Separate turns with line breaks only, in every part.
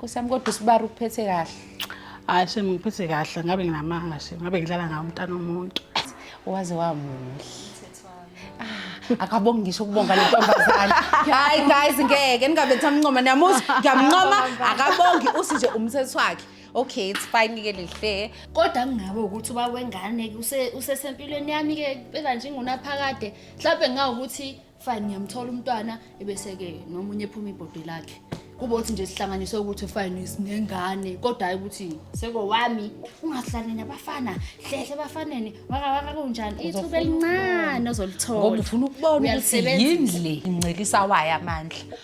Nkosi yami kodwa usibara ukuphethe kahle. Hayi shem
ngiphethe kahle ngabe nginamanga shem ngabe ngidlala ngawo umntana omuntu. Waze
wamuhle. Ah, akabongi ngisho ukubonga le ntombazane. Hayi guys ngeke ningabe thamncoma niyamuza ngiyamncoma akabongi usi nje umthetho wakhe. okay it's fine ke lihle kodwa kungabe
ukuthi uba wengane ke use- usesempilweni yami ke beka nje ingunaphakade mhlawumbe ngawukuthi fine ngiyamthola umntwana ebese-ke nomunye ephuma ibhodi lakhe kube ukuthi nje sihlanganiswe ukuthi fine sinengane kodwa hhayi ukuthi sekowami ungahlali nabafana hlehle ebafaneni wakawaka kunjani ithuba elincane ozolithola ngoba ufuna ukubona ukuthi
Uyalisebenzisa. yini le incelisa wayo amandla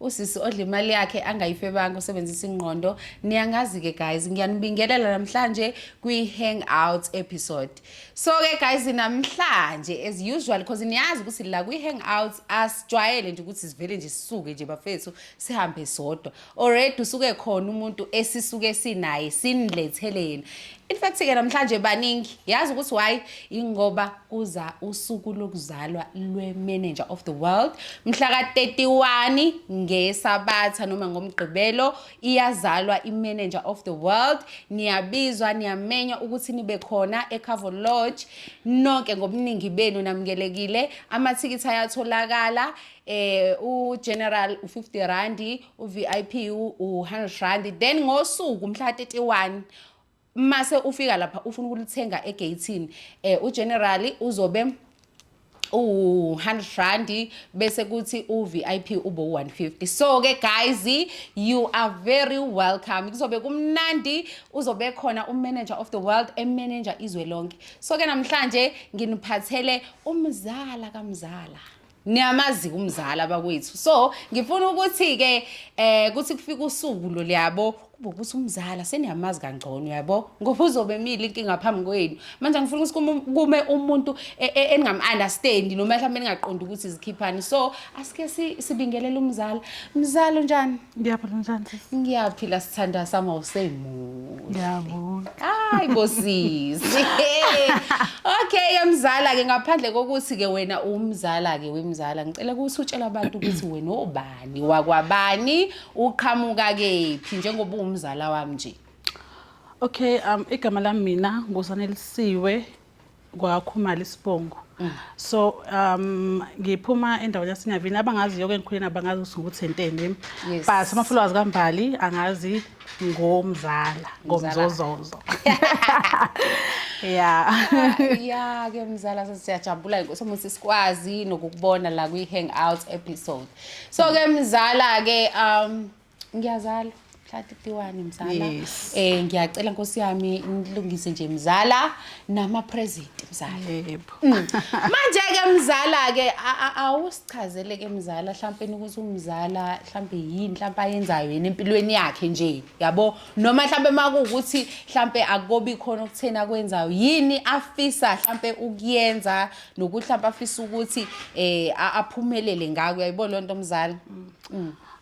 usisi odla imali yakhe angayifebanga usebenzisa ingqondo niyangazi-ke guys ngiyanibingelela namhlanje kwi-hang out episode so-ke guys namhlanje as usual because niyazi ukuthi la kwi-hang out asijwayele nje ukuthi sivele nje sisuke nje bafethu sihambe sodwa already usuke khona umuntu esisuke sinaye sinilethele yena In fact ke namhlanje baningi yazi ukuthi why ingoba kuza usuku lokuzalwa lwe-manager of the world mhla ka-31 ngesabatha noma ngomgqibelo iyazalwa i-manager of the world niyabizwa niyamenywa ukuthi nibe khona eCavo Lodge nonke ngobuningi benu namukelekile amathikithi ayatholakala eh ugeneral u50 rand uvip u100 rand then ngosuku mhla 31 mase ufika lapha ufuna ukulithenga egeyithini eh ugenerali uzobe u-100 rand bese kuthi u-vip ube u-150 so ke guys you are very welcome kuzobe kumnandi uzobe khona umanager of the world emanager izwe lonke so ke namhlanje nginiphathele umzala kamzala niyamazi umzali abakwethu so ngifuna ukuthi ke eh kuthi kufika usuku lo liyabo kube ukuthi umzala seniyamazi kangcono yabo ngoba uzobe emile inkinga phambi kwenu manje ngifuna ukuthi kume umuntu e, e, eningam-understandi noma mhlawumbe ningaqondi ukuthi zikhiphani so asike sibingelele umzala mzala unjani Ngiyaphila njani sisi?
Ngiyaphila sithandwa
sami awusemuhle. Ngiyabonga.
Hayi
bosisi. Okay ke mzala ke ngaphandle kokuthi ke wena umzala ke wemzala ngicela ukuthi utshele abantu ukuthi wena obani wakwabani uqhamuka kephi njengoba uwumzala wami nje. Okay
um igama lami mina ngusanelisiwe kwakhumala isibongo mm. so um ngiphuma endaweni yasinyavini abangaziyo ke ngikhuleni abangazi ukuthi nguthenteni yes. but amafulwazi kambali angazi ngomzala ngomzozozo ya
ya ke mzala sesiyajabula inkosi omuthi sikwazi nokukubona la kwi hangout episode so ke mzala ke um ngiyazala mhla 31 mzala Yes. eh ngiyacela nkosi yami nilungise nje mzala nama present mzala yebo
manje
ke mzala ke a- a- awusichazele ke mzala mhlampe ukuthi umzala mhlampe yini mhlampe ayenzayo yena empilweni yakhe nje yabo noma mhlampe makuwukuthi mhlampe akobi khona okutheni akwenzayo yini afisa mhlampe ukuyenza nokuthi mhlampe afisa ukuthi eh a- aphumelele ngako yayibona lonto mzala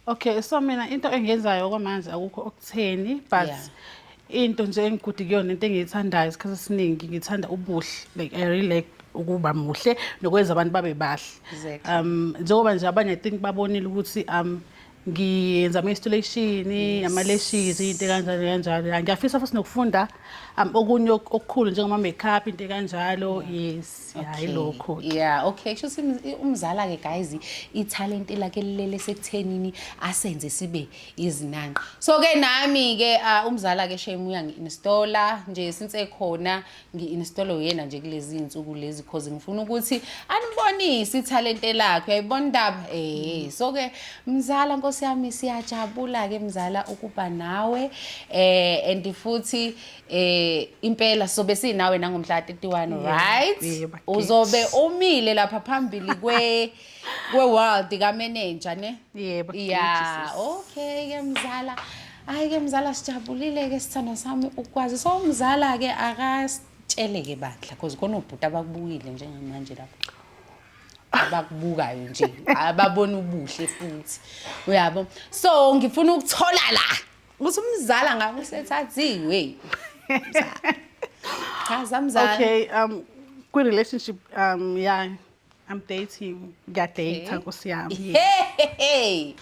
Okay
so mina into engiyenzayo okwamanje akukho okutheni but yeah. into nje engigude kuyona into engiyithandayo isikhathi esiningi ngithanda ubuhle like I really like ukuba muhle nokwenza abantu babe bahle exactly. um njengoba nje abanye i think babonile ukuthi um ngiyenza ama-installation ama-lashes into kanjalo kanjalo ngiyafisa futhi nokufunda um okunye okukhulu njengoma-makeup into kanjalo yes hayi Okay. lokho ke. yeah okay
shuthi umzala ke guys ithalente lakhe lilele sekuthenini asenze sibe izinanqa so ke nami ke ah, umzala ke shame uyangi-installa nje since ekhona ngi-installa uyena nje kulezi iy'nsuku lezi cause ngifuna ukuthi anibonise ithalente lakhe uyayibona indaba eh so ke mzala nkosi yami siyajabula ke mzala ukuba nawe eh and futhi eh impela sobe sinawe nangomhla 31 right uzobe umile lapha phambili kwe kwe world ka manager ne yebo
yeah
okay ke mzala hayi ke mzala sijabulile ke sithando sami ukwazi so umzala ke akasitshele ke bandla because khona ubhuti abakubukile njengamanje lapho abakubukayo nje ababona ubuhle futhi uyabo so ngifuna ukuthola la Ukuthi umzala ngabe usethathiwe. Cha zamzala. Okay, um
kwi relationship um yeah I'm dating ngiyadata nkosi yami hey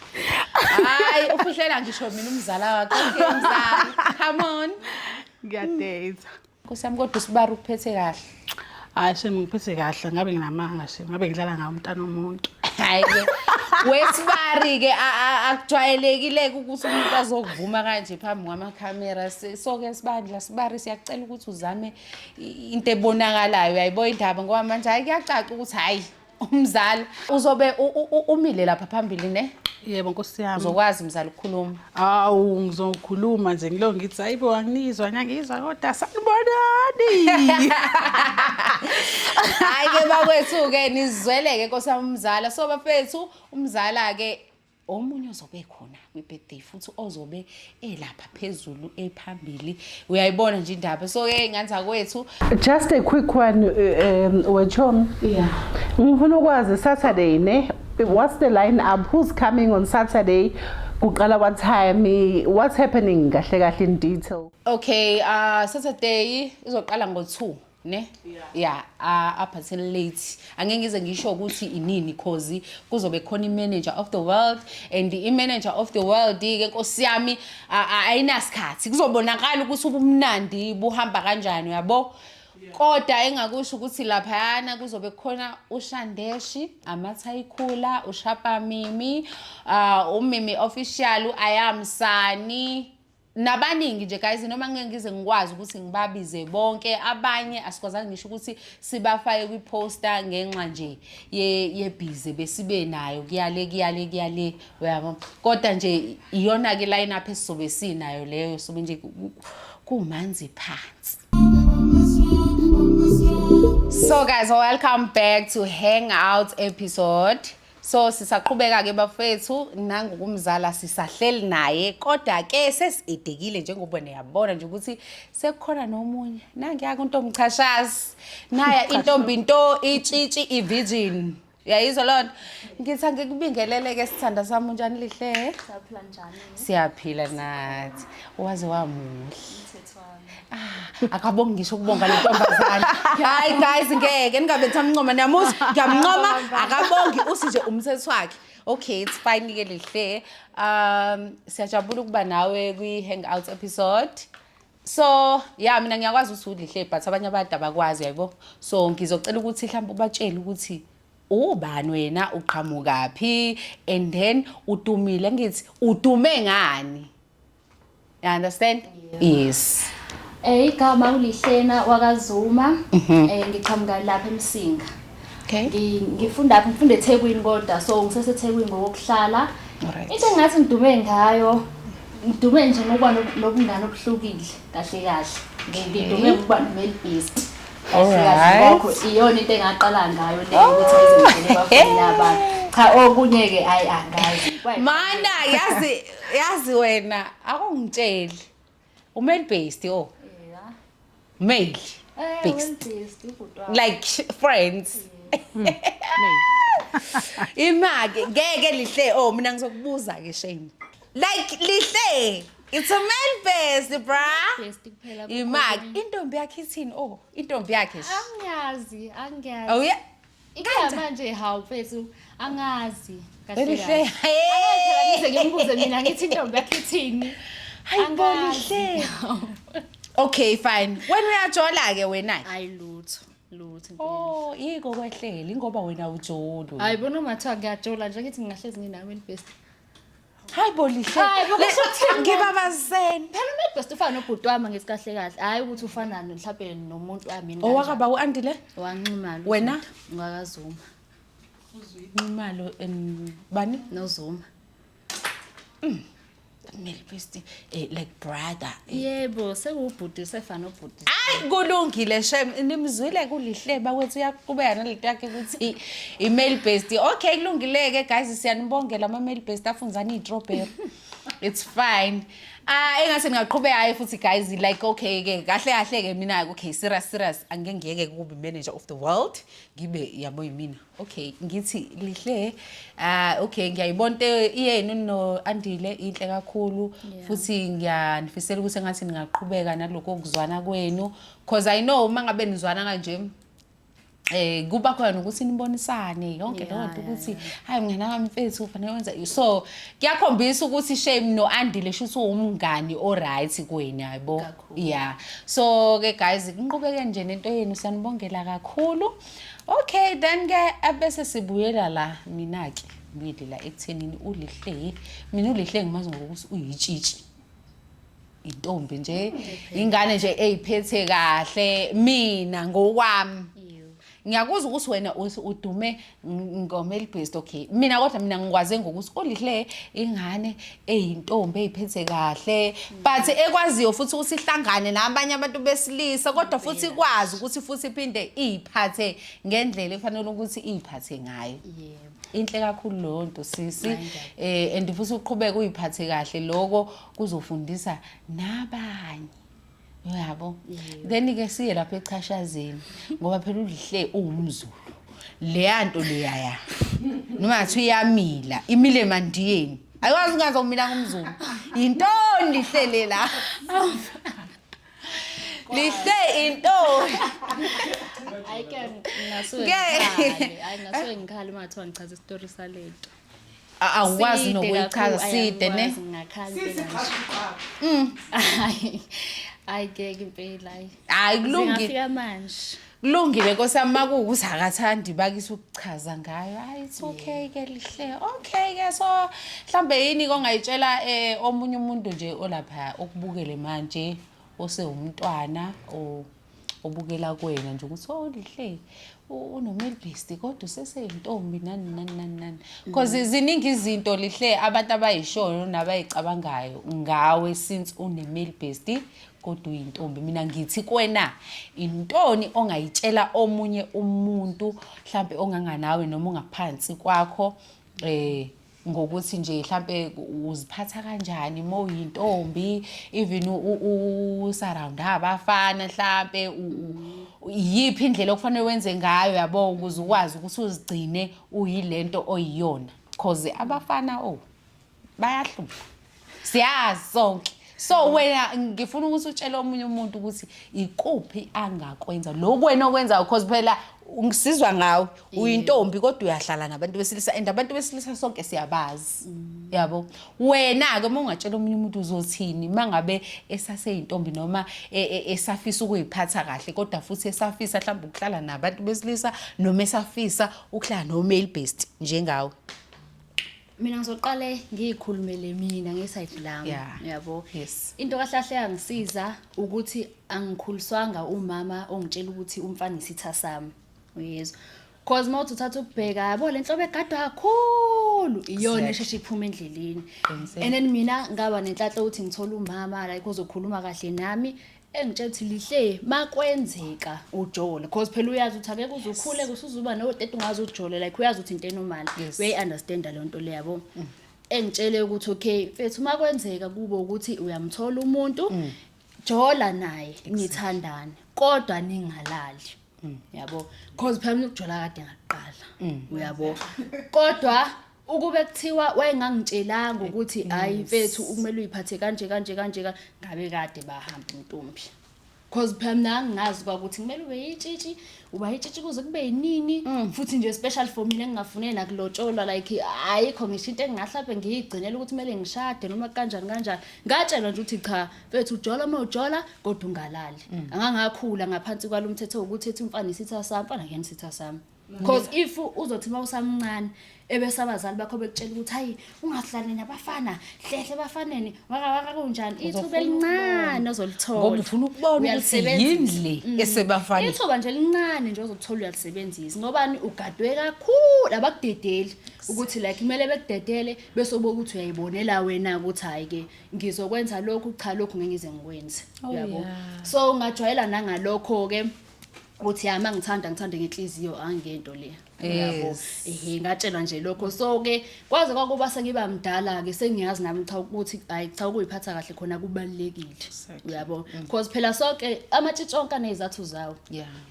hayi ufihlela ngisho mina umzala wakho mzala come on ngiyadata
Nkosi yami
kodwa usibara ukuphethe kahle. Hayi shame
ngiphethe kahle ngabe nginamanga shame ngabe ngidlala ngawo umntana omuntu. Hayi ke.
Wesibari ke akujwayelekileke ukuthi umuntu azokuvuma kanje phambi kwamakhamera. Soke sibandla sibari siyakucela ukuthi uzame into ebonakalayo. Uyayibo indaba ngoba manje hayi kuyacaca ukuthi hayi umzali uzobe umile lapha phambili ne yebo nkosi yami
uzokwazi mzali ukukhuluma
awu
ngizokhuluma nje ngilo ngithi hayibo anginizwa ngiyangizwa kodwa sanibonani hayi
ke bakwethu ke nizweleke nkosi yami umzala so bafethu umzala ke omunye ozobe khona kwi-birthday futhi ozobe elapha phezulu ephambili uyayibona nje indaba so ke nganza kwethu just a quick
one um wechom yeah
ngifuna ukwazi
saturday ne what's the line up who's coming on saturday kuqala what time what's happening kahle kahle in detail okay uh
saturday izoqala ngo-2 ne ya a- up until late angeke ngize ngisho ukuthi inini cause kuzobe khona i-manager of the world and i-manager of the world ke nkosi yami a- a- ayinasikhathi kuzobonakala ukuthi ubumnandi buhamba kanjani uyabo kodwa engakusho ukuthi laphayana kuzobe kukhona ushandeshi amathayikhula ushapamimi um umimi official uyamsani nabaningi nje guys noma ngeke ngize ngikwazi ukuthi ngibabize bonke abanye asikwazanga ngisho ukuthi sibafake kwi-poster ngenxa nje yebhize besibe nayo kuyale kuyale kuyale uyabo kodwa nje iyona-ke line up esizobe sinayo leyo sobe nje kumanzi phansi so guys welcome back to hangout episode So sisaqhubeka ke bafethu nangu kumzala sisahleli naye kodwa ke sesidekile njengoba niyabona nje ukuthi sekukhona nomunye nangiyaka untombi chashazi naya intombi into itshitshi ivirgin yayizwa loo nto ngithi angikubingeleleke sithanda sami unjani lihle
siyaphila
nathi waze wamuhle akabongi ngisho ukubonga le ntombazane hayi guys ngeke ningabethi amncoma niyamuza ngiyamncoma akabongi uthi nje umthetho wakhe okay it's fine ke lihle um siyajabula ukuba nawe kwi hangout episode so ya mina ngiyakwazi ukuthi ulihle but abanye abantu abakwazi yayibo so ngizocela ukuthi mhlawumbe ubatshele ukuthi ubani wena uqhamukaphi and then utumile ngithi utume ngani You understand? Yes. Eh igama
ulihlena wakazuma Mhm. eh ngiqhamuka lapha eMsinga. Okay. Ngi-
Ngifunda apha
ngifunda eThekwini kodwa so ngiseseThekwini ngokuhlala. Alright. Into engathi
ngidume
ngayo ngidume nje ngokuba no- nobungane obuhlukile kahle kahle. Ngi- Ngidume ngokuba nomale beast. Kahle kahle Alright. ngakho
iyona into
engaqala ngayo le ukuthi ngizenzele bafuna abantu. Cha okunye ke ayi angazi. Mana
yazi yazi wena akungitsheli umale based oh
male
eh, based like friends hmm. imake ngeke lihle oh mina ngizokubuza ke shame like lihle it's a male based bra
imake intombi
yakhe ithini oh intombi yakhe angiyazi
angiyazi oh yeah
ikhaya manje
hawu mfethu angazi kahle Elihle, kahle. hey! Angazi
phela
ngize ngimbuze mina ngithi intombi yakhe ithini Hayi bo, Angazi. Lihle.
okay fine wena uyajola ke wena hayi lutho
lutho impela. oh yiko
kwehlela ingoba wena ujolo hayi bona mathiwa
ngiyajola nje ngithi ngingahlezi nginami elibest Hayi
bo lihle. Hayi, bo, kusho ukuthini?
Ngibabazeni.
Phela umebhest ufana
nobhuti wami ngithi kahle kahle. Hayi ukuthi ufana no- mhlawumbe nomuntu wami yini kanjani. Owakaba u-Andile?
wanxumalo. Wena? Ngakazuma. Nxumalo and bani? Nozuma.
Melbesti.
Eh, like brother eh. yebo
sekuwubhuti usefana ubhuti hayi kulungile
shem nimzwile kulihleba kwethu uyaqhubeka nalento yakhe ukuthi i-mail based okay kulungile-ke guys siyanibongela ama-mail based afunzani iy'trobheri it's fine ah engase ngingaqhubeka hayi futhi guys like okay ke kahle kahle ke mina okay serious serious angeke ngiyeke kubi manager of the world ngibe yabo yimina okay ngithi lihle ah okay ngiyayibona into iyenu no andile inhle kakhulu futhi ngiyanifisela ukuthi engathi ningaqhubeka naloko kuzwana kwenu because i know uma ngabe nizwana kanje eh kuba khona ukuthi nibonisane yonke leyo nto ukuthi hayi mngane wami mfethu ufanele wenza so kuyakhombisa ukuthi shame no andile shuthi uwumngani o right kweni hayibo yeah so ke guys ngiqhubeke nje nento yenu siyanibongela kakhulu okay then ke abese sibuyela la mina ke ngibuyele la ekuthenini ulihle mina ulihle ngimazi ngokuthi uyitshitshi intombi nje ingane nje eyiphethe kahle mina ngokwami ngiyakuzwa ukuthi wena udume ngomeli based okay mina kodwa mina ngikwaze ngokuthi ulihle ingane eyintombi eyiphethe kahle but ekwaziyo futhi ukuthi ihlangane nabanye abantu besilisa kodwa futhi ikwazi ukuthi futhi iphinde iyiphathe ngendlela efanele ukuthi iyiphathe ngayo yebo inhle kakhulu leyo nto sisi eh and futhi uqhubeke uyiphathe kahle lokho kuzofundisa nabanye uyabo then ke siye lapha echashazeni ngoba phela ulihle uwumzulu leya nto leyaya noma ngathi uyamila imile emandiyeni ayikwazi ungazomila ngumzulu yintoni lihlele la lihle intoni
Hayi ke ngingasuke Ngeke. ngikhale. Hayi ngingasuke ngikhale uma kuthiwa ngichaza isitori salento. A- awukwazi
Side nokuyichaza kakhulu, side ne ayangikwazi, ngingakhala Sisi impela. qhaqa uqhaqa.
Hayi, hayi keke impela hayi. hayi kulungile
Zingafika manje.
kulungile nkosi
yami makuwukuthi akathandi bakise ukuchaza ngayo hayi it's okay ke lihle okay ke so mhlawumbe yini kongayitshela um omunye umuntu nje olapha okubukele manje osewumntwana or obukela kuwena nje ukuthi oh lihle unomilbesti kodwa useseyintombi nani nani nani nani because mm. ziningi izinto lihle abantu abayishoyo nabayicabangayo ngawe since unemilbesti kodwa uyintombi mina ngithi kwena intoni ongayitshela omunye umuntu mhlambe onganganawe noma ongaphansi kwakho eh ngokuthi nje mhlampe uziphatha kanjani uma uyintombi even usaround abafana mhlampe iyiphi indlela okufanele wenze ngayo yabo ukuze ukwazi ukuthi uzigcine uyilento oyiyona cause abafana oh bayahlupha siyazi sonke so wena ngifuna ukuthi utshele omunye umuntu ukuthi ikuphi angakwenza lokhu wena okwenzayo because phela ngisizwa ngawe uyintombi kodwa uyahlala nabantu besilisa and abantu besilisa sonke siyabazi mm. yabo wena-ke uma ungatshela omunye umuntu uzothini uma ngabe esaseyintombi noma e, e, esafisa ukuyiphatha kahle kodwa futhi esafisa mhlawumbe ukuhlala nabantu besilisa noma esafisa ukuhlala no-male based njengawe
mina ngizoqale ngiyikhulumele mina ngesayidi lami yeah. yabo yes. into kahlahle yangisiza ukuthi angikhuliswanga umama ongitshela ukuthi umfana isitha sami uyezwa cause uma uthi uthatha ukubheka yabo le nhlobo egadwa kakhulu iyona esheshe iphuma endleleni and then mina ngaba nenhlanhla ukuthi ngithola umama like uzokhuluma kahle nami engitshela ukuthi lihle makwenzeka ujole because phela uyazi ukuthi akeke uzukhule kusuzuba no date ungazi ujole like uyazi ukuthi into enormal Yes. we understand leyo nto leyo yabo engitshele ukuthi okay mfethu uma kwenzeka kubo ukuthi uyamthola umuntu jola naye nithandane kodwa ningalali yabo because phela mina ukujola kade ngaqala uyabo kodwa Ukube kuthiwa wayengangitshelanga ukuthi hayi mfethu ukumele uyiphathe kanje kanje kanje ka- ngabe kade bahamba intombi. Cause phela mina ngingazi kwakuthi kumele ube yitshitshi, uba yitshitshi kuze kube yinini futhi nje special for mina engingafune nakulotsholwa like ayikho ngisho into engingahlabe ngiyigcinela ukuthi kumele ngishade noma kanjani kanjani. Ngatshelwa nje ukuthi cha mfethu ujola uma ujola kodwa ungalali. Angangakhula ngaphansi kwalomthetho wokuthi ethi umfana isitha sami, mfana kuyena isitha sami. because if uzothi uma usamncane ebese abazali bakho bekutshela ukuthi hayi ungahlali nabafana hlehle bafaneni wakawaka kunjani ithuba elincane ozolithola ngoba ufuna ukubona ukuthi
yindle mm. esebafaneni ithuba nje elincane
nje ozolithola uyalisebenzisa ngobani ugadwe kakhulu abakudedeli ukuthi like kumele bekudedele bese uboka ukuthi uyayibonela wena ukuthi hayi ke ngizokwenza lokhu cha lokhu ngeke ngize ngikwenze oh, uyabo so ungajwayela nangalokho ke ukuthi hayi mangithanda ngithande ngenhliziyo angento le yabo
ehe ngatshelwa
nje lokho so ke kwaze kwakuba sengiba mdala ke sengiyazi nami cha ukuthi hayi cha ukuyiphatha kahle khona kubalekile uyabo mm. because phela sonke amatshitshi onke anezathu zawo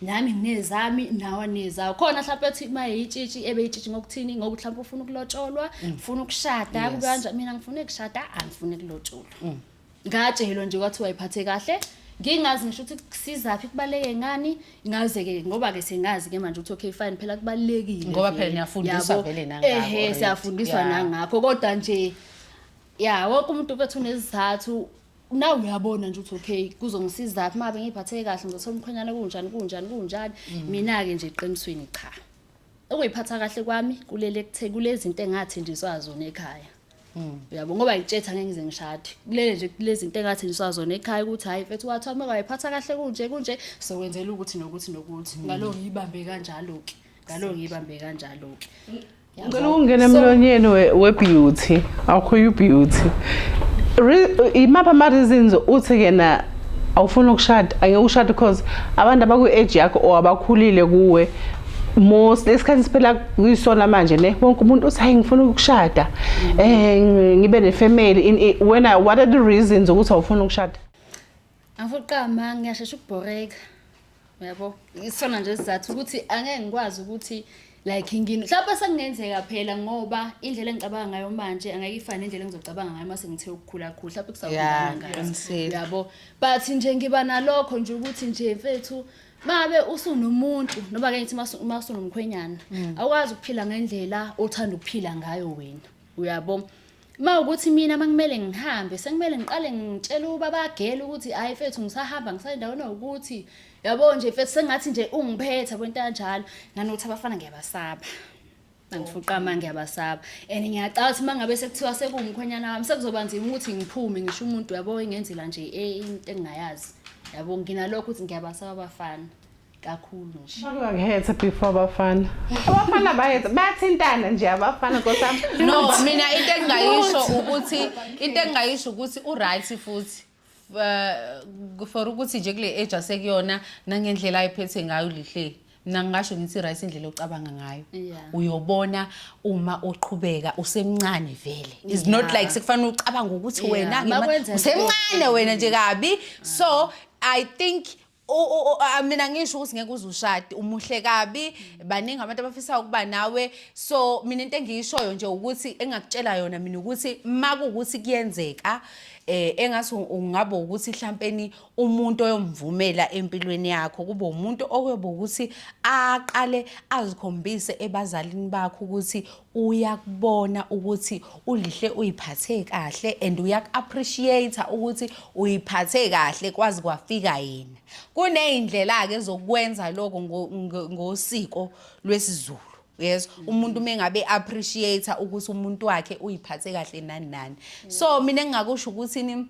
nami nginezami nawa nezawo khona mhlawumbe ethi uma yitshitshi ebe yitshitshi ngokuthini ngoku mhlawumbe ufuna ukulotsholwa mm. ufuna ukushada kube kanje mina ngifuna ukushada angifuni kulotsholwa mm. ngatshelwa nje kwathiwa iphathe kahle ngingazi ngisho ukuthi kusizaphi kubaleke ngani ngaze ke ngoba ke sengazi ke manje ukuthi okay fine phela kubalekile ngoba phela niyafundiswa
vele nangakho ehe siyafundiswa nangakho
kodwa nje ya wonke umuntu kwethu nezizathu nawe uyabona nje ukuthi okay kuzongisiza phi mabe ngiphatheke kahle ngizothola umkhwenyana kunjani kunjani kunjani mm. mina ke nje eqinisweni cha ukuyiphatha kahle kwami kulele kuthe kulezinto engathenjiswa zona ekhaya Mm. Uyabo ngoba yitshetha ngeke ngize ngishade. Kulele nje kulezi zinto engathi niswazona ekhaya ukuthi hayi mfethu wathiwa uma wayiphatha kahle kunje kunje sokwenzela ukuthi nokuthi nokuthi. Mm. Ngalo ngiyibambe kanjalo ke. Ngalo ngiyibambe kanjalo ke.
Ngicela ukungena emlonyeni webeauty. Awukho you beauty. Imapha ama reasons uthi kena awufuni ukushada angeke ushade because abantu abaku age yakho or abakhulile kuwe most lesikhathi siphela kuyisona manje ne wonke umuntu uthi hayi ngifuna ukushada eh ngibe ne family wena what are the reasons ukuthi awufuna ukushada angifuna
uqama ngiyashesha ukubhoreka yabo isona nje sizathu ukuthi angeke ngikwazi ukuthi like ngini mhlawumbe sekungenzeka phela ngoba indlela engicabanga ngayo manje angeke ifane indlela engizocabanga ngayo mase ngithe ukukhula khulu mhlawumbe kusakhulanga yabo but nje ngiba nalokho nje ukuthi nje mfethu mabe usunomuntu noma ke ngithi uma usunomkhwenyana mm. awukwazi ukuphila ngendlela othanda ukuphila ngayo wena uyabo ma ukuthi mina makumele ngihambe sekumele ngiqale ngitshele ubabagela ukuthi hayi mfethu ngisahamba ngisayendaweni ukuthi yabo nje mfethu sengathi nje ungiphetha kwento kanjalo nanokuthi abafana ngiyabasaba angifuqama ngiyabasaba and ngiyacala ukuthi uma ngabe sekuthiwa sekuwumkhwenyana wami sekuzoba nzima ukuthi ngiphume ngisho umuntu yabo engenzela nje eh, into engingayazi yabo nginalokho ukuthi ngiyabasaba abafana kakhulu nje bakuhethe before
abafana abafana bahethe bayathintana nje abafana nkosami no mina into
engingayisho ukuthi into engingayisho ukuthi uright futhi uh, for ukuthi nje kule age asekuyona nangendlela ayiphethe ngayo lihle mina ngingasho ngithi right indlela ocabanga ngayo yeah. uyobona uma uqhubeka usemncane vele it's yeah. not like sekufanele ucabanga ukuthi yeah. wena usemncane wena nje kabi so i think mina ngisho ukuthi ngeke uze ushade umuhle kabi baningi abantu abafisa ukuba nawe so mina into engiyishoyo nje ukuthi engakutshela yona mina ukuthi makuwukuthi kuyenzeka eh engathi ungaba ukuthi mhlawumpeni umuntu oyomvumela empilweni yakho kube umuntu oyobe ukuthi aqale azikhombise ebazalini bakho ukuthi uyakubona ukuthi ulihle uyiphathe kahle and uyaku-appreciate ukuthi uyiphathe kahle kwazi kwafika yena kuney'ndlela-ke zokwenza lokho ngosiko lwesiZulu yes umuntu uma engabe appreciate ukuthi umuntu wakhe uyiphathe kahle nani nani so mina engingakusho ukuthi ni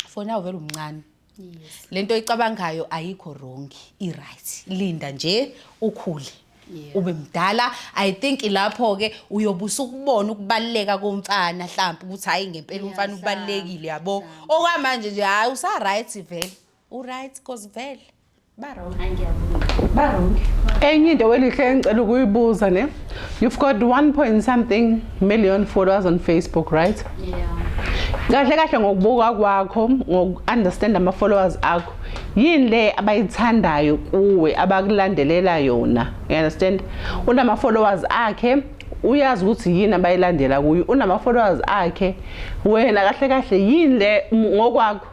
fona uvele umncane yes. lento icabangayo ayikho wrong i-right linda nje ukhule Yeah. ube mdala i think lapho ke uyobusa ukubona ukubaluleka komfana mhlawumbe ukuthi hayi ngempela Yeah, umfana mhlawumbe, ubalulekile yabo mhlawumbe. okwamanje nje hayi usa right vele u right cause vele
enye into welihle engicela ukuyibuza ne you've got 1 point something million followers on facebook right yeah kahle kahle ngokubuka kwakho ngoku-understand ama-followers akho yini le abayithandayo kuwe abakulandelela yona you understand unama-followers akhe uyazi ukuthi yini abayilandela kuyo unama-followers akhe wena kahle kahle yini le ngokwakho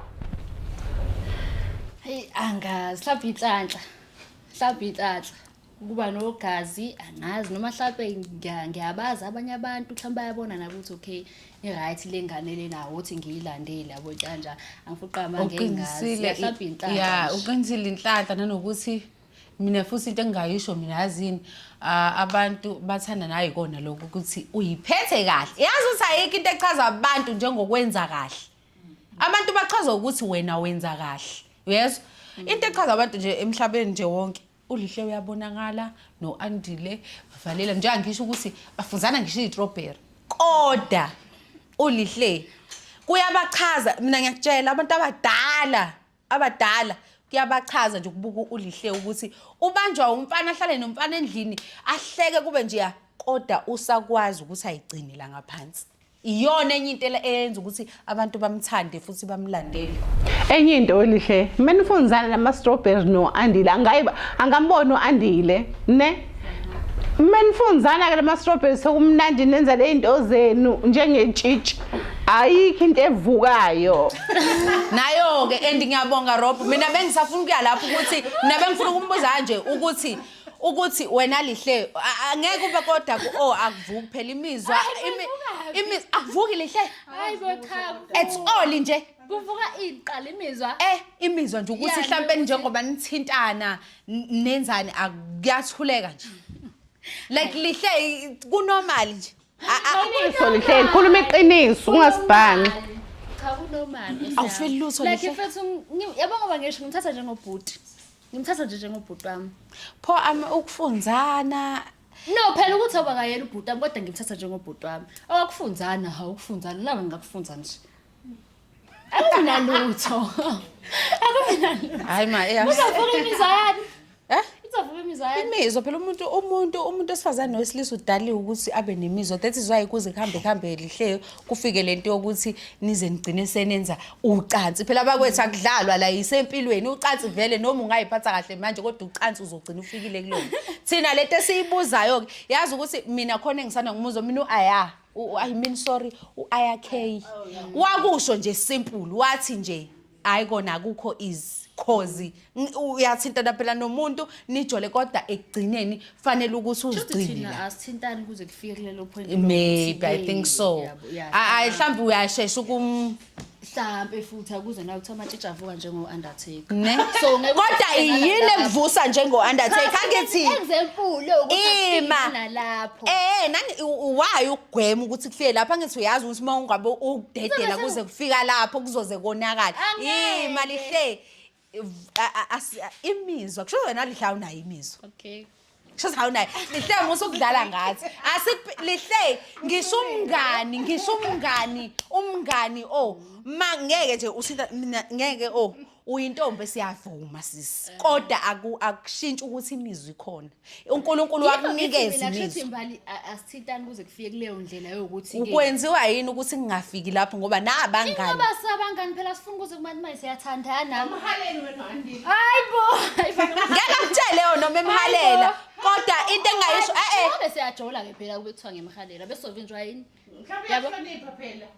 Hey angazi mhlawumbe inhlanhla mhlawumbe inhlanhla ukuba nogazi angazi noma mhlawumbe ngiyabazi abanye abantu mhlawumbe bayabona nakuthi okay i-right le ngane lena ukuthi ngiyilandele yabo kanja angifuqa amanga engazihlaphi inhlanhla ya uqinisile inhlanhla
nanokuthi mina futhi into engingayisho mina yazini abantu bathanda naye kona lokho ukuthi uyiphethe kahle yazi ukuthi ayikho into echaza abantu njengokwenza kahle abantu bachaza ukuthi wena wenza kahle uyezwa into echaza abantu nje emhlabeni nje wonke ulihle uyabonakala no-andile bavalela njenga ngisho ukuthi bafunzana ngisho iyitrobheri koda ulihle kuyabachaza mina ngiyakutshela abantu abadala abadala kuyabachaza nje ukubuka ulihle ukuthi ubanjwa umfana ahlale nomfana endlini ahleke kube nje ya kodwa usakwazi ukuthi ayigcine la ngaphansi iyona enye into ele- eyenza ukuthi abantu bamthande futhi bamlandele enye into
olihle mina ufunzana nama-strawberry no-andile angayi angamboni u-andile ne Menifunzana ke lama strawberries sokumnandi nenza lezinto zenu njengetshitshi. Ayikho into evukayo. Nayo
ke and ngiyabonga Rob. Mina bengisafuna ukuya lapho ukuthi mina bengifuna ukumbuza kanje ukuthi ukuthi wena lihle a- a- ngeke ube kodwa ku oh akuvuki phela imizwa imi- imi akuvuki lihle Hayi bo cha.
it's all nje
Kuvuka iqala
imizwa. eh imizwa nje ukuthi
Yeah, mhlampe njengoba nithintana N- nenzani aku- kuyathuleka nje like lihle i- kunormal nje A- a- Iqiniso
lihle likhuluma iqiniso ungasibhani. Cha
kunormal. Awufeli lutho, Like
Lihle. mfethu ngi-
yabo ngoba ngisho ngimthatha njengobhuti. Ngimthatha nje njengobhuti wami. pho ami
ukufunzana No
phela ukuthi awubakayena ubhuti wami kodwa ngimthatha njengobhuti wami. Awakufunzana ha ukufunzana laba ngingakufunza nje. Akunalutho. Akunalutho. Hayi ma eya. Uzavuka
imizwa
yani. Eh? Uzavuka imizwa yani. Imizwa phela umuntu umuntu
umuntu osifazane wesilisa udaliwe ukuthi abe nemizwa. That is why kuze kuhambe kuhambe lihle kufike lento yokuthi nize nigcine senenza ucansi. Phela bakwethu akudlalwa la isempilweni ucansi vele noma ungayiphatha kahle manje kodwa ucansi uzogcina ufikile kulona. Thina lento esiyibuzayo ke yazi ukuthi mina khona engisana ngumuzo mina uaya U- I mean sorry u-IRK wakusho nje simple wathi nje hayi kona akukho is cause ng- uyathintana phela nomuntu nijole kodwa ekugcineni fanele ukuthi Shuthi uzigcine thina la asithintani
kuze kufike kulelo point maybe i think
so Yabo, yeah. Ah, ah, mhlawumbe uyashesha ukum
mhlampe futhi akuze nawe ukuthi amatshitshi avuka njengo-undertaker ne so ngeke
kodwa uhlale
nalapho. yini
ekuvusa njengo-undertaker angithi Example, ukuthi
Ima. afike nalapho. Eh nani
waye ukugwema ukuthi kufike lapha ngithi uyazi ukuthi uma ungabe ukudedela Kuzobe kuze kufika lapho kuzoze konakala. Angeke. Yima lihle imizwa kusho wena lihle awunayo imizwa okay kusho
awunayo
lihle musa ukudlala ngathi lihle ngisho umngani ngisho umngani umngani o oh, ma ngeke nje usitha mina ngeke o oh, uyintombi esiyavuma sisi kodwa akushintshi ukuthi imizwa ikhona unkulunkulu wakunikeza imizi mbali asithintani
kuze kufike kuleyo ndlela yokuthi ukwenziwa yini ukuthi
ngingafiki lapho ngoba nabangani ingoba sabangani
phela sifuna ukuze kubantu manje siyathandana umhaleli wena andi
hayibo
ngeke ngitshele
yona noma emhalela kodwa into engayisho eh eh siyajola
ke phela kube kuthiwa ngemhalela bese sovinjwa yini mhlawumbe yahlonipha
phela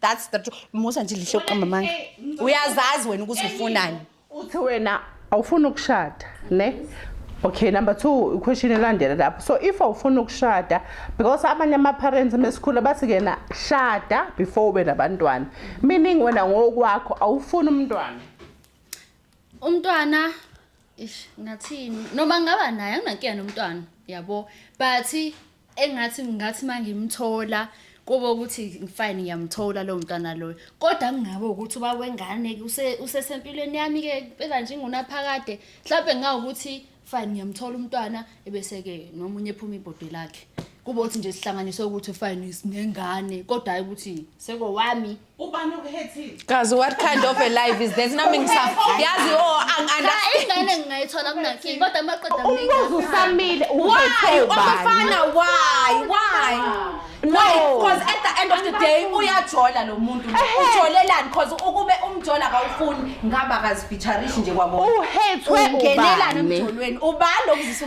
that's the truth musa nje lihle uqamba amanga uyazazi wena ukuthi ufunani uthi wena
awufuni ukushada ne okay number two question elandela lapho so if awufuni ukushada because abanye ama-parents mesikhula bathi kena shada before ube nabantwana meaning wena ngokwakho awufuni umntwana umntwana
ish ngathini noma ngaba naye anginankinga nomntwana yabo but engathi ngathi mangimthola kube ukuthi fine ngiyamthola lo mntwana loyo kodwa kungabe ukuthi uba wengane usesempilweni yami-ke phela nje ingunaphakade mhlawumbe ngawukuthi fine ngiyamthola umntwana ebese-ke nomunye ephuma ibhodi lakhe kube ukuthi nje sihlanganiswe ukuthi fine sinengane kodwa hhayi ukuthi sekowami Ubani okuhethile?
Kazi what kind of
a life is this? Nami ngisa yazi oh Cha angiunderstand.
ingane ngingayithola kunankinga kodwa amaqeda Umbuzo
usamile Why? uzothobani?
Umfana why? Why? No. Why? Because at the end of the day uyajola lo muntu. Ehhe. Ujolelani because ukube umjola akawufuni ngaba akazifeatureishi nje kwabona. Uhethwe
Ungenelani ubani?
emjolweni? Ubani okuzisa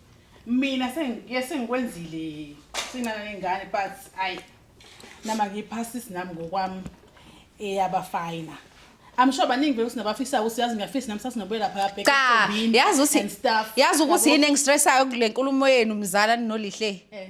mina sengiye sengikwenzile sinana nengane but ayi nama ngiphasis nami ngokwami eyaba fina I'm sure baningi vele sinabafisa ukuthi yazi ngiyafisa nami sasinobuyela phaya back cha yazi
ukuthi yazi ukuthi
yini
engistressayo kule nkulumo yenu mzala ninolihle eh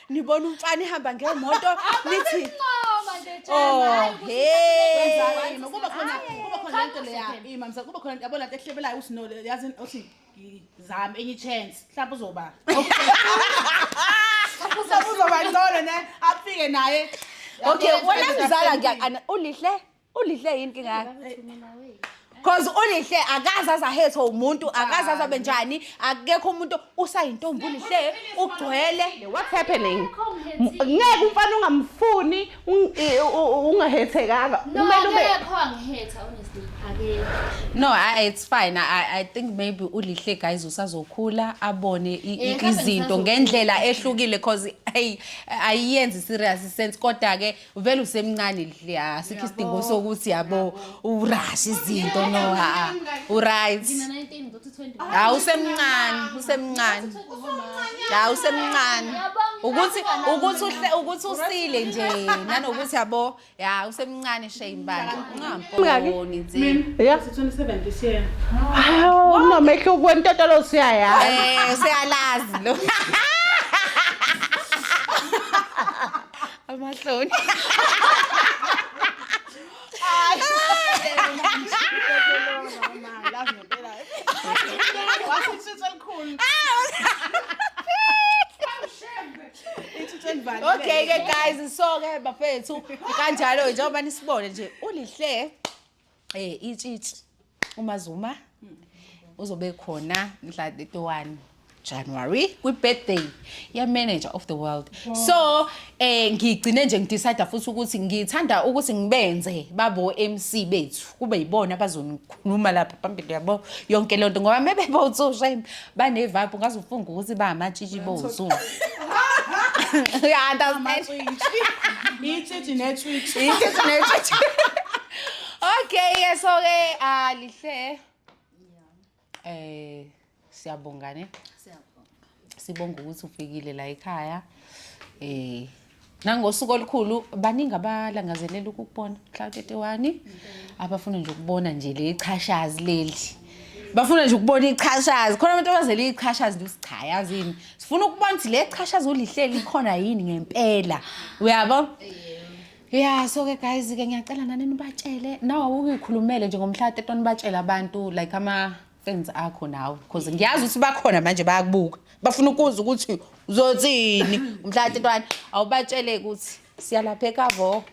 nibona umfana ihamba ngemoto nithi Nqoma nje Oh, Jana. hey. Wenzani? Kuba khona
kuba khona Cha, lento leya. kuhle. Imamsa kuba khona yabona lento ehlebelayo usino yazi othi ngizama enye chance. Mhlawumbe uzoba. Mhlawumbe uzoba ngcono ne afike naye. Okay, Yabona, wena
mzala ngiyakana ulihle Ulihle yini inkinga yakhe? Cause ulihle akaze azahethe umuntu, akaze azabe njani, akekho umuntu usayintombi ulihle ugcwele. What's happening?
Ngeke umfana ungamfuni un- i- u- u- ungahethekanga. No, Kumele ube akekho
angihetha honestly.
Akekho. No, I, it's fine. I, I think maybe ulihle guys usazokhula abone i- i- Eh, mhlawumbe izinto ngisazokhula. ngendlela ehlukile cause hey ayiyenzi serious sense kodwa ke uvele usemncane lihle ha sikho isidingo sokuthi yabo urash izinto no ha uright ha usemncane usemncane ha usemncane ukuthi ukuthi uhle ukuthi usile nje nanokuthi yabo ya usemncane shame bani ungamboni nje yeah 27
this year hawo no
mehlo kwentotolo siyaya eh siyalazi
lo Amahloni. Okay ke guys so ke bafethu kanjalo njengoba nisibone nje ulihle Eh itshitshi uMazuma hmm. uzobe khona mhla 31 January kwi-birthday ye-manager of the world wow. so eh ngigcine nje ngidecide futhi ukuthi ngithanda ukuthi ngibenze babo MC bethu kube yibona abazonikhuluma lapha phambili yabo yonke lento ngoba mebebotsushe bane vibe ungaze ufunge ukuthi ba amatshitshi bozu yeah that's amatshitshi
itshitshi netshitshi itshitshi netshitshi
okay yes okay ah lihle eh siyabonga ne siyabonga sibonga ukuthi ufikile la ekhaya eh nangosuku olukhulu baningi abalangazelela ukukubona mhla u-31 abafuna nje ukubona nje le chashazi leli bafuna nje ukubona ichashazi khona abantu abazela ichashazi nje cha yazi yini sifuna ukubona ukuthi le chashazi ulihleli ikhona yini ngempela uyabo ya so ke guys ke ngiyacela nani nibatshele nawe awukuyikhulumele nje ngomhla 31 batshele abantu like ama friends akho nawe because ngiyazi ukuthi bakhona manje bayakubuka bafuna ukuzwa ukuthi uzothini umhlala tintwana awubatshele ukuthi siyalapha ekavo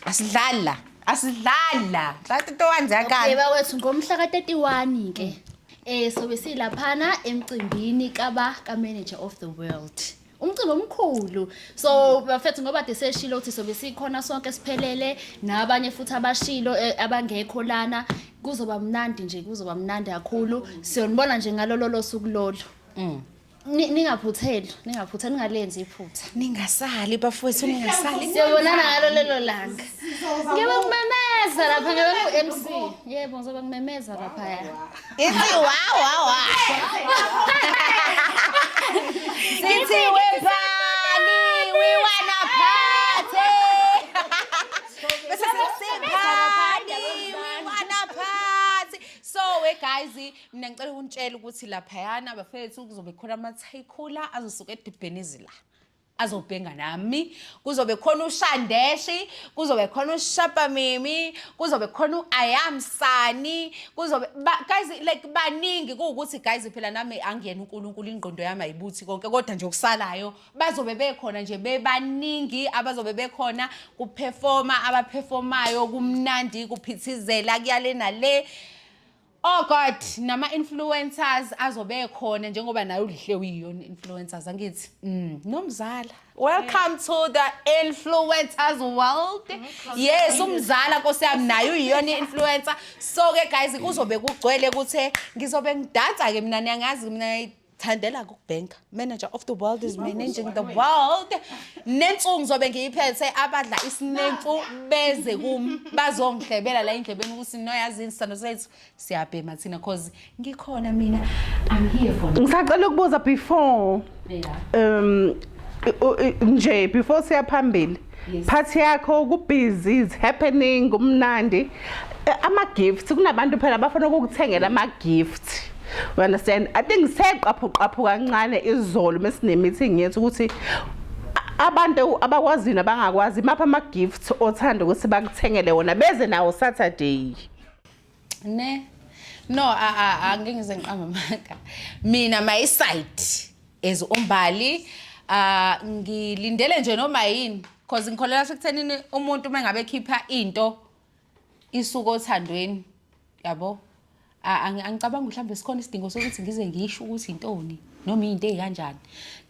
asidlali la asidlali la mhlala tintwana ziyakala Yeba wethu ngomhla ka-31
ke eh sobe silaphana emcimbini kaba ka-manager of the world umcimbi omkhulu so bafethu ngoba de seshilo ukuthi sobe sikhona sonke siphelele nabanye futhi abashilo eh, abangekho lana kuzoba mnandi nje kuzoba mnandi kakhulu siyonibona nje ngalolo losuku lolo Ni- ningaphutheli ningaphutheli ningalenzi iphutha ningasali
bafowethu ningasali siyobonana ngalo lelo
langa ngebe ngimemeza lapha ngebe ngu-mc yebo ngizobe ngimemeza laphaya Ithi wa
wa wa. Sithi we party, we wanna party. Bese sithi party, we wanna party. So we guys, mina ngicela ukunitshela ukuthi laphayana bafethu kuzobe khona ama-tycooler azosuka edibheni izila. azobhenga nami kuzobe khona ushandeshi kuzobe khona ushapamimi kuzobe khona uayamsani kuzobe ba, guys like baningi kuwukuthi guys phela nami angiyena uNkulunkulu ingqondo yami ayibuthi konke kodwa nje okusalayo bazobe bekhona nje bebaningi abazobe bekhona kuperforma abaperformayo kumnandi kuphithizela kuyale nale Oh God, nama influencers azobe khona njengoba naye ulihle uyiyona influencers angithi. Mm, nomzala. Welcome to the influencers world. Mm-hmm. Yes, umzala Nkosi yami naye uyiyona influencer. So ke guys kuzobe kugcwele ukuthi ngizobe ngidansa ke mina niyangazi mina Thandela ku bank manager of the world is managing the world. Nensuku ngizobe ngiyiphethe abadla isinemfu beze kum bazongihlebela la endlebeni ukuthi noyazini sithando sethu siyabhema thina cause ngikhona mina I'm here for now. Ngisacela ukubuza before
Yeah. um u- u- nje before siya phambili. part yakho kubhizi is happening kumnandi eh, ama gifts kunabantu phela bafuna ukukuthengela ama gifts you understand i think seqaphu qaphu kancane izolo mesine meeting yethu ukuthi abantu abakwazi nabangakwazi mapha ama gifts othanda ukuthi bakuthengele wona beze nawo saturday
ne no a a a ngeke ngize ngiqamba amanga mina my side as umbali ah ngilindele nje noma yini because ngikholela sekuthenini umuntu uma ngabe ekhipha into isuka othandweni yabo A- angi- angicabangi mhlawumbe sikhona isidingo sokuthi ngize ngisho ukuthi intoni noma into ezikanjani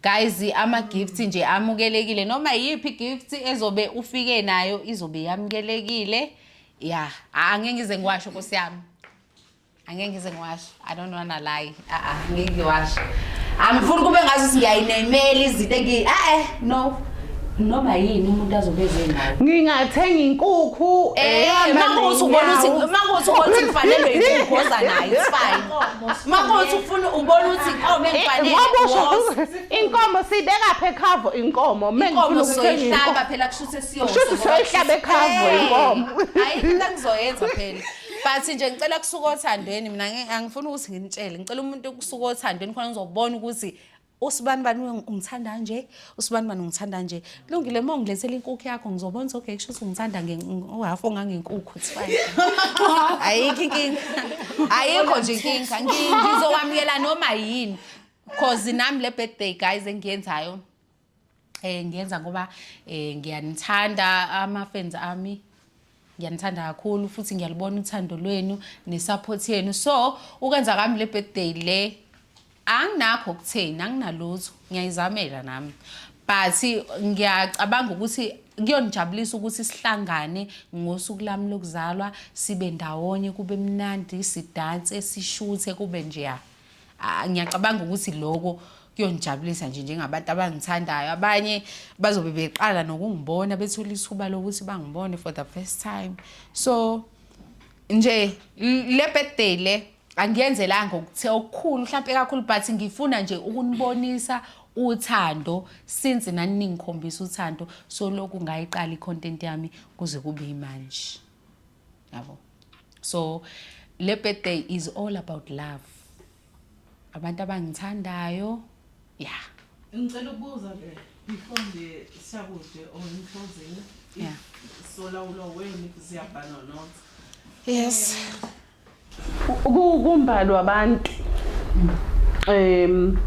guys ama gifts nje amukelekile noma yiphi gift ezobe ufike nayo izobe yamukelekile ya a- angeke ngize ngiwasho nkosi yami angeke ngize ngiwasho i don't wanna lie a-a ngeke ngiwasho angifuni kube ngazi ukuthi ngiyayinemela izinto engi e-e no noma yini umuntu azobe ezengayo ngingathenga
inkukhu Eh, makuthi
ubona ukuthi makuthi ubona ukuthi kufanelwe inkukhu oza nayo it's fine makuthi ufuna ubona ukuthi inkomo engifanele was-
inkomo siyibekaphi ekhavo inkomo uma ngifuna inkomo ukuthenga
inkukhu soyihlaba phela kusho Kushuthi soyihlaba
ekhavu inkomo. Hayi into
engizoyenza phela. But nje ngicela kusuka othandweni mina ngi- angifuni ukuthi nginitshele. Ngicela umuntu ukusuka othandweni khona ngizobona ukuthi usibani bani uyo- ungithanda kanje, usibani bani ungithanda kanje. Lungile uma ungilethela inkukhu yakho ngizobona ukuthi okay kusho ukuthi ungithanda nge uhaf ongangenkukhu it's fine. Ayikho inkinga. Ayikho nje inkinga. Ngi- Ngizokwamukela noma yini. Cause nami le birthday guys engiyenzayo eh ngiyenza ngoba eh ngiyanithanda ama fans ami ngiyanithanda kakhulu futhi ngiyalibona uthando lwenu nesupport yenu so ukwenza kami le birthday le anginakho kutheni anginalutho ngiyayizamela nami but ngiyacabanga ukuthi kuyonijabulisa ukuthi sihlangane ngosuku lami lokuzalwa sibe ndawonye kube mnandi sidanse sishuthe kube njeya Ah, ngiyacabanga ukuthi loko kuyonijabulisa nje njengabantu abangithandayo abanye bazobe beqala nokungibona bethula ithuba lokuthi bangibone for the first time so nje l- le birthday le angiyenzelanga okuthe okukhulu mhlawumpe kakhulu but ngifuna nje ukunibonisa uthando since nani ningikhombisa uthando so lokhu ngayiqala i-content yami kuze kube yimanje yabo so le birthday is all about love abantu abangithandayo ya ngicela
ukubuza ke before nje siyakude or in closing Yeah.
solawulo
wenu ziyabhalwa not yes
kumbalwa abantu um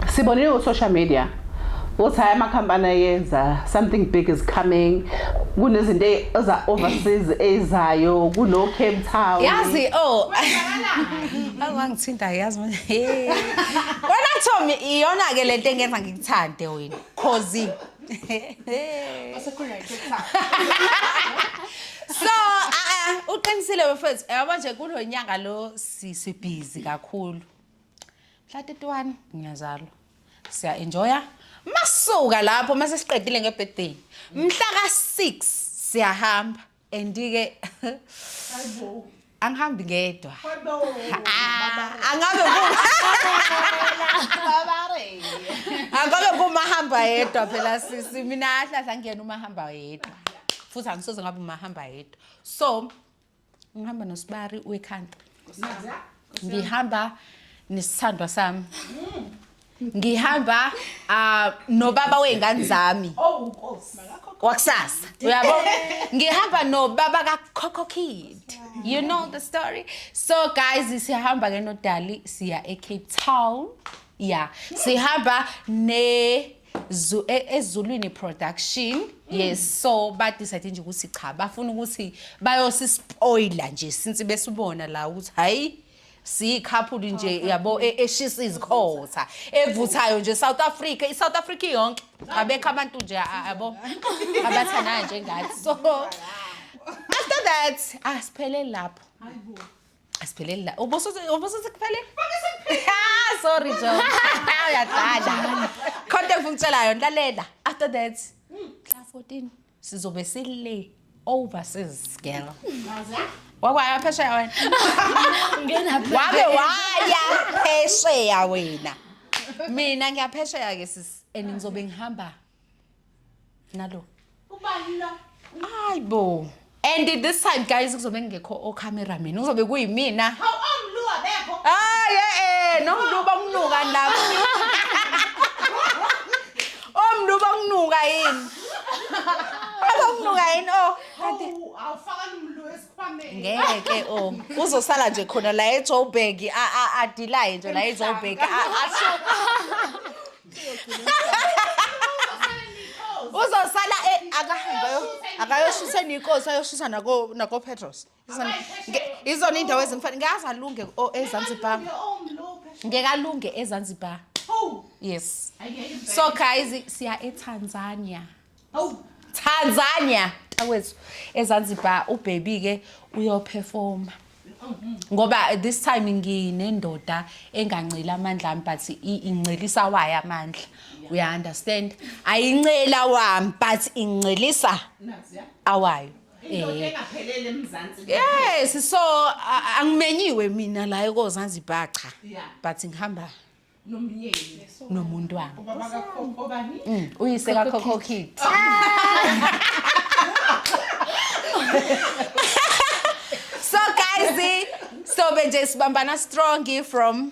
sibonile ku-social media ukuthi hhayi amakhampani ayenza something big is coming kunezinto e-, eza-overseas ezayo kuno-cape town yazi o
oh. awangithinta yazi wena tom iyona-ke le nto engenza ngikuthande wena cause Asekhona iTikTok. so a a uqinisile bafethu yabo nje kulonyanga lo sisi busy kakhulu mhla 31 ngiyazalwa siya enjoya masuka lapho mase siqedile ngebirthday mhla ka 6 siyahamba and ke angihambi ngedwa Ah, angabe angabe kumahamba yedwa phela sisi mina ahlahla ngiyena umahamba yedwa futhi angisoze ngabe umahamba yedwa so ngihamba nosibari we-country ngihamba nesithandwa sami ngihamba ah, nobaba wey'ngane zami wakusasa uyabo ngihamba nobaba kakhokho kid you know the story so guys sihamba ke nodali siya ecape town ya sihamba ne Zu- e- ezulwini production yes so badecide nje ukuthi cha bafuna ukuthi bayosispoila nje since besibona la ukuthi hayi siyikhaphuli nje yabo e- eshisa izikhotha evuthayo nje South Africa iSouth Africa yonke abekho abantu nje a- yabo abathanayo njengathi so after that asipheleli lapho asipheleli lapho ubusuthi ubusuthi kuphele Ah, sorry jo uyadlala content ngikutshelayo lalela after that mhla 14 sizobe sile overseas girl wakwaya phesheya wena wabe waya phesheya wena mina ngiyaphesheya ke sisi and ngizobe ngihamba nalo
hayi bo
and this time guys kuzobe ngekho ocameraman kuzobe kuyimina
hayi e-e
nomluba umnuka lapho Omntu ubokunuka yini? Ubokunuka yini oh? Kanti awufakani
umntu esikhwameni. Ngeke ke oh.
Uzosala nje khona la eJoburg a a adilaye nje la eJoburg a asho. Uzosala e akahambe ayo- akayoshisa nikosi ayoshisa nako nako Petros. Izona- nge- izona indawo ezimfana ngaze alunge o- ezanzibar ngeke alunge ezanzibar yes so guys siya etanzania tanzania takwethu ezanzibar ubhebi-ke uyophefoma ngoba this time nginendoda enganceli amandla ami but i- incelisa wayo amandla uya-understand ayincela wami but incelisa awayo
indoda engaphelele emzansi yes so a-
angimenyiwe mina la ekozanzibar cha Yeah. but ngihamba nomyeni
nomuntu wami
ubaba kakhokho
bani Mm, uyise kakhokho
kid so guys sobe nje sibambana strong from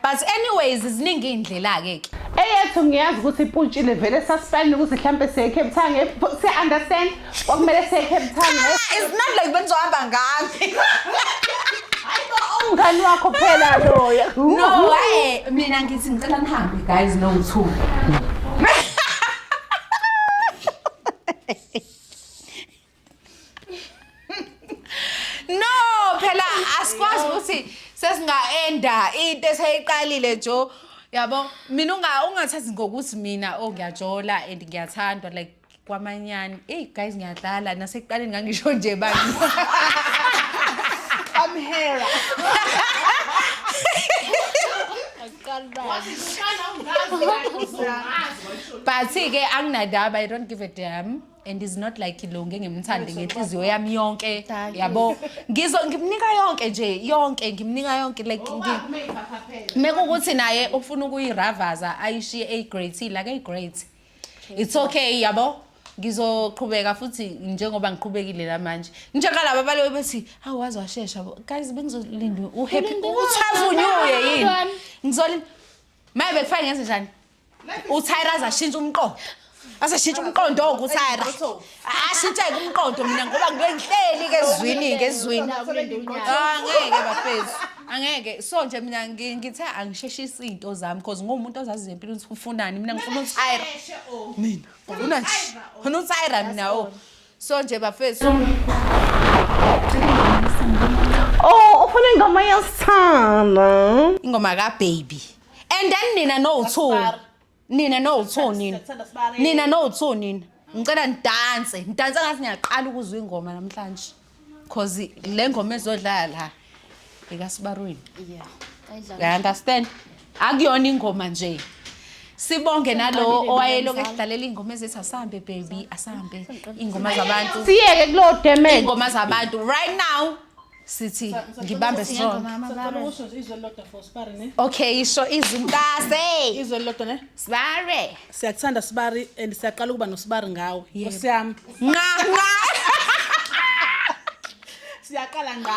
But anyways ziningi indlela ke ke. Eyethu ngiyazi
ukuthi ipuntshile vele sasifayini ukuthi mhlambe siye Cape Town nge si understand okumele siye Cape Town. Ah, it's not like
benzohamba ngami.
Umngani wakho phela loya. No, hey, mina ngithi ngicela nihambe
guys no two. no phela asikwazi ukuthi sesingaenda into eseyiqalile jo yabo mina unga ungathathi ngokuthi mina oh ngiyajola and ngiyathandwa like kwamanyani hey guys ngiyadlala nasekuqaleni ngangisho nje bani
I'm here.
but ke anginadaba i don't give a damn and is not like lo ngengimthande ngenhliziyo yami yonke yabo ngizo ngimnika yonke nje yonke ngimnika yonke like mekukuthi naye ufuna ukuyiravaza ayishiye a great la ke great it's okay yabo ngizoqhubeka futhi njengoba ngiqhubekile la manje njengalaba balobe bethi hawu waze washesha guys bengizolinda uhappy uchavunyuye yini ngizolinda maye bekufake ngenze njani utyra aze ashintshe umqondo aze ashintshe umqondo oku utyra ashintsheke umqondo mina ngoba ngike ngihleli ke ezwini ke ezwini Ah, angeke bafethu angeke so nje mina ngi- ngithe angisheshisi iy'nto zami because nguwumuntu ozaziyo empilweni ukuthi ufunani mina ngifuna utyra mina ngifuna nje ngifuna utyra mina o so nje bafethu
Oh, ufuna ingoma yesithanda. ingoma
kababy and then nina nowu-two nina nowu-two nina nina nowu-two nina ngicela nidanse nidanse ngathi niyaqala ukuzwa ingoma namhlanje cause le ngoma ezodlala la ikasibarwini i understand akuyona ingoma nje sibonge nalowo owayeloku esidlalela iy'ngoma ezithi asambe baby asambe iy'ngoma zabantu siyeke kulo damage
iy'ngoma zabantu
right now sithi ngibambe strong
okay isho
izinkase izwe lodwa ne
sibare
siyakuthanda sibari
and siyaqala ukuba nosibari ngawe nkosi yami nqa nqa siyaqala nqa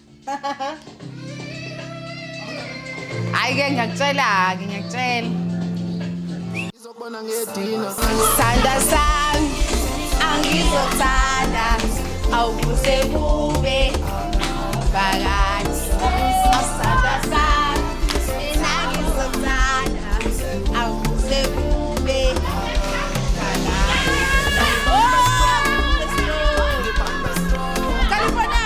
Hayi ke ngiyakutshela ke ngiyakutshela.
Ngizobona ngedina. Sanda
sami angizothanda awukuze kube phakathi. Asanda sami mina ngizothanda awukuze kube phakathi. Oh, California.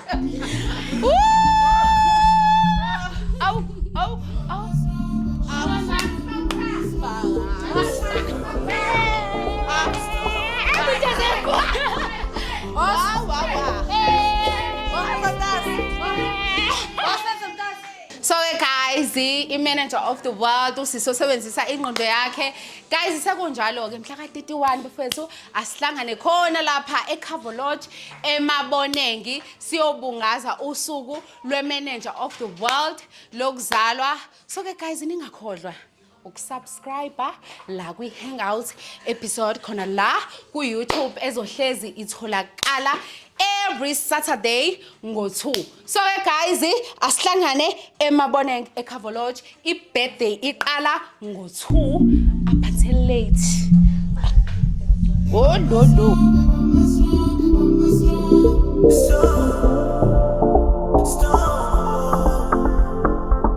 Au, au, au. So ke guys, i-manager of the world usisi osebenzisa ingqondo yakhe. Guys, sekunjalo ke mhla ka-31 bafethu asihlangane khona lapha eCover Lodge eMabonengi siyobungaza usuku lweManager of the World lokuzalwa so ke guys ningakhohlwa ukusubscribe la kwi-hangout episode khona la ku-youtube ezohlezi itholakala every saturday ngo-2 so ke guys asihlangane emaboneng ecover lodge ibirthday iqala ngo-2 up until late oh no no so, stop.